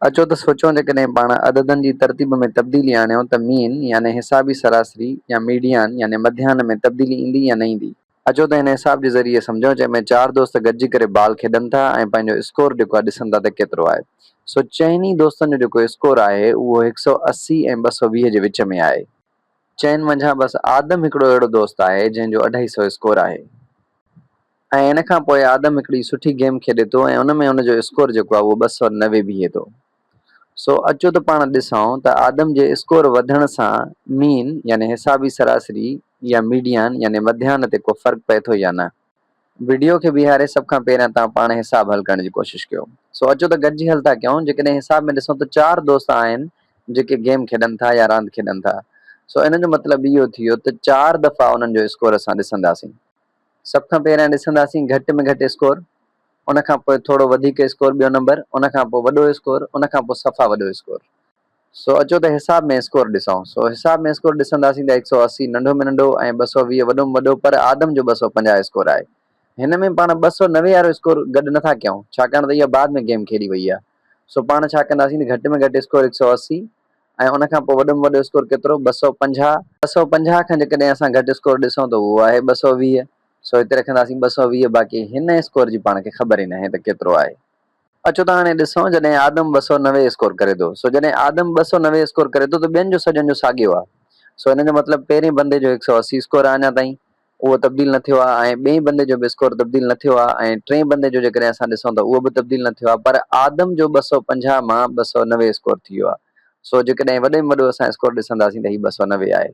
اچو ته سوچيون جيڪڏهن پاڻ عددن جي ترتيب ۾ تبديلي آڻيون ته مين يعني حسابي سراسري يا ميڊيان يعني مڌيان ۾ تبديلي ايندي يا نه ايندي؟ اچو ته هن حساب جي ذريعي سمجهون جنهن ۾ چار دوست گڏجي ڪري بال کيڏن ٿا ۽ پنهنجو اسڪور جيڪو آهي ڏسن ٿا ته ڪيترو آهي. سو چئن ئي دوستن جو جيڪو اسڪور آهي اهو هڪ سؤ اسي ۽ ٻه سؤ ويهه جي وچ ۾ آهي. چئن منجهان بس آدم هڪڙو اهڙو دوست آهي جنهن جو اڍائي سؤ اسڪور آهي. ۽ ان کان پوء آدم هڪڙي سٺي گيم کيڏي ٿو ۽ ان ۾ ان جو اسڪور جيڪو آهي اهو ٻه سؤ نوي بيهي ٿو. سو اچو ته پاڻ ڏسئون ته آدم جي اسڪور وڌڻ سان مين يعني حسابي سراسري يا ميڊيان يعني مڌيان تي ڪو فرق پئي ٿو يا نه. وڊيو کي بيهاري سڀ کان پهريان توهان پاڻ حساب حل ڪرڻ جي ڪوشش ڪيو. سو اچو ته گڏجي حل ٿا ڪيون. جيڪڏهن حساب ۾ ڏسئون ته چار دوست آهن جيڪي گيم کيڏن ٿا يا راند کيڏن ٿا. سو ان جو مطلب اهو ٿي ويو ته چار دفعا انهن جو اسڪور اسان ڏسنداسين. سڀ کان پهريان ڏسنداسين گهٽ ۾ گهٽ اسڪور، ان کان پوء ٿورو وڌيڪ اسڪور ٻيو نمبر، ان کان پوء وڏو اسڪور، ان کان پوء صفا وڏو اسڪور. سو اچو ته حساب ۾ اسڪور ڏسون. سو حساب ۾ اسڪور ڏسنداسين ته هڪ سؤ اسي ننڍو ۾ ننڍو ۽ ٻه سؤ ويهه وڏو ۾ وڏو پر آدم جو ٻه سؤ پنجاهه اسڪور آهي. هن ۾ پاڻ ٻه سؤ نوي وارو اسڪور گڏ نه ٿا ڪيون ڇاڪاڻ ته اها بعد ۾ گيم کيڏي وئي آهي. سو پاڻ ڇا ڪنداسين ته گهٽ ۾ گهٽ اسڪور هڪ سؤ اسي ۽ ان کان پوء وڏي ۾ وڏو اسڪور ڪيترو ٻه سؤ پنجاهه، ٻه سؤ پنجاهه کان جيڪڏهن اسان گهٽ اسڪور ڏسون ته اهو آهي ٻه سؤ ويهه سو هتي رکنداسين ٻه سؤ ويهه باقي هن اسڪور جي پاڻ کي خبر ئي ناهي ته ڪيترو آهي اچو ته هاڻي ڏسون جڏهن آدم ٻه سؤ نوي اسڪور ڪري ٿو سو جڏهن آدم ٻه سؤ نوي اسڪور ڪري ٿو ته ٻين جو سڄن جو ساڳيو آهي سو ان جو مطلب پهرين بندي جو هڪ سؤ اسي اسڪور آهي اڃا تائين اهو تبديل نه ٿيو آهي ۽ ٻئي بندي جو به اسڪور تبديل نه ٿيو آهي ۽ ٽئين بندي جو جيڪڏهن اسان ڏسون ته اهو به تبديل نه ٿيو آهي پر آدم جو ٻه سؤ پنجاهه مان ٻه سؤ نوي اسڪور ٿي ويو آهي سو جيڪڏهن وڏي ۾ وڏو اسان اسڪور ڏسنداسين ته هي ٻه سؤ نوي آهي.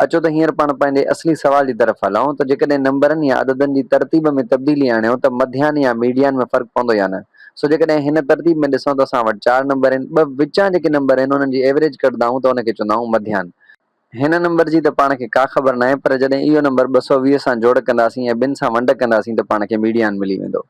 اچو ته هينئر پاڻ پنهنجي اصلي سوال جي طرف هلون ته جيڪڏهن نمبرن يا عددن جي ترتيب ۾ تبديلي آڻيون ته مڌيان يا ميڊيان ۾ فرق پوندو يا نه سو جيڪڏهن هن ترتيب ۾ ڏسون ته اسان وٽ چار نمبر آهن ٻه وچان جيڪي نمبر آهن انهن جي ايوريج ڪڍندا آهيون ته ان کي چوندا آهيون مڌيان هن نمبر جي ته پاڻ کي ڪا خبر ناهي پر جڏهن اهو نمبر ٻه سؤ ويهه سان جوڙ ڪنداسين ۽ ٻن سان ونڊ ڪنداسين ته پاڻ کي ميڊيان ملي ويندو.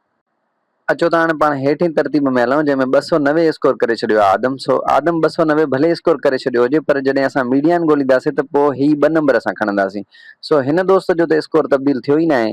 اچو ته هاڻي پاڻ هيٺين ترتيب ۾ هلون جنهن ۾ ٻه سؤ نوي اسڪور ڪري ڇڏيو آهي آدم سو آدم ٻه سؤ نوي ڀلي اسڪور ڪري ڇڏيو هجي پر جڏهن اسان ميڊيان ڳولينداسين ته پوء هي ٻه نمبر اسان کڻنداسين سو هن دوست جو ته اسڪور تبديل ٿيو ئي ناهي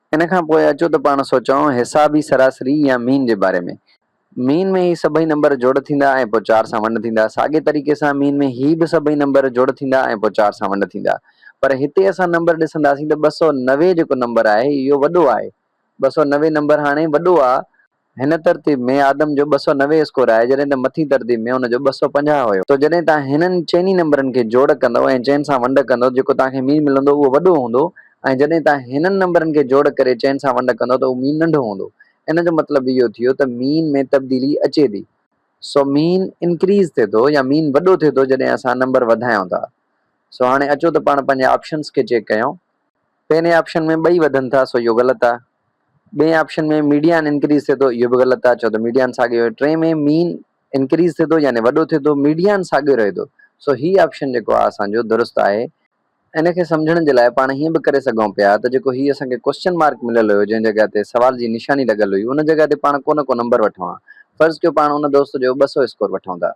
ان کان پوء اچو ته پاڻ سوچئون حسابي سراسري يا مين جي باري ۾. مين ۾ هي سڀئي نمبر جوڙ ٿيندا ۽ پوء چار سان ونڊ ٿيندا. ساڳئي طريقي سان مين ۾ هي به سڀئي نمبر جوڙ ٿيندا ۽ پوء چار سان ونڊ ٿيندا. پر هتي اسان نمبر ڏسنداسين ته ٻه سؤ نوي جيڪو نمبر آهي اهو وڏو آهي. ٻه سؤ نوي نمبر هاڻي وڏو آهي. هن ترتيب ۾ آدم جو ٻه سؤ نوي اسڪور آهي جڏهن ته مٿين ترتيب ۾ هن جو ٻه سؤ پنجاهه هيو. سو جڏهن توهان هنن چئني نمبرن کي جوڙ ڪندؤ ۽ چئن سان ونڊ ڪندؤ جيڪو توهان کي مين ملندو اهو وڏو هوندو ۽ جڏهن توهان هنن نمبرن کي جوڙ ڪري چئن سان ونڊ ڪندؤ ته اهو مين ننڍو هوندو. ان جو مطلب اهو ٿيو ته مين ۾ تبديلي اچي ٿي. سو مين انڪريز ٿئي ٿو يا مين وڏو ٿئي ٿو جڏهن اسان نمبر وڌايون ٿا. سو هاڻي اچو ته پاڻ پنهنجي آپشنز کي چيڪ ڪيون. پهرين آپشن ۾ ٻئي وڌن ٿا سو اهو غلط آهي. ٻئي آپشن ۾ ميڊيان انڪريز ٿئي ٿو اهو به غلط آهي ڇو ته ميڊيان ساڳيو آهي. ٽئين ۾ مين انڪريز ٿئي ٿو يعني وڏو ٿئي ٿو ميڊيان ساڳيو رهي ٿو سو هي آپشن جيڪو آهي اسان جو درست آهي. ان کي سمجهڻ جي لاء پاڻ هيئن به ڪري سگهون پيا ته جيڪو هي اسان کي ڪوئسچن مارڪ مليل هيو جنهن جڳهه تي سوال جي نشاني لڳل هئي ان جڳهه تي پاڻ ڪو نه ڪو نمبر وٺون ها. فرض ڪيو پاڻ ان دوست جو ٻه سؤ اسڪور وٺون ٿا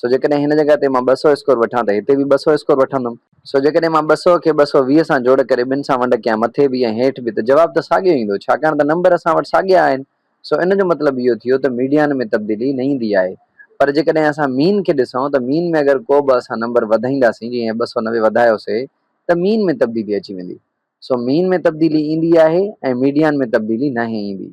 سو جيڪڏهن هن جڳهه تي مان ٻه سؤ اسڪور وٺان ته هتي به ٻه سؤ اسڪور وٺندم. سو جيڪڏهن مان ٻه سؤ کي ٻه سؤ ويهه سان جوڙ ڪري ٻن سان ونڊ ڪيان مٿي به ۽ هيٺ به ته جواب ته ساڳيو ايندو ڇاڪاڻ ته نمبر اسان وٽ ساڳيا آهن. سو ان جو مطلب اهو ٿيو ته ميڊيان ۾ تبديلي نه ايندي آهي. پر جيڪڏهن اسان مين کي ڏسون ته مين ۾ اگر ڪو به اسان نمبر وڌائينداسين جيئن هي ٻه سؤ نوي وڌايوسي ته مين ۾ تبديلي اچي ويندي. سو مين ۾ تبديلي ايندي آهي ۽ ميڊيان ۾ تبديلي ناهي ايندي.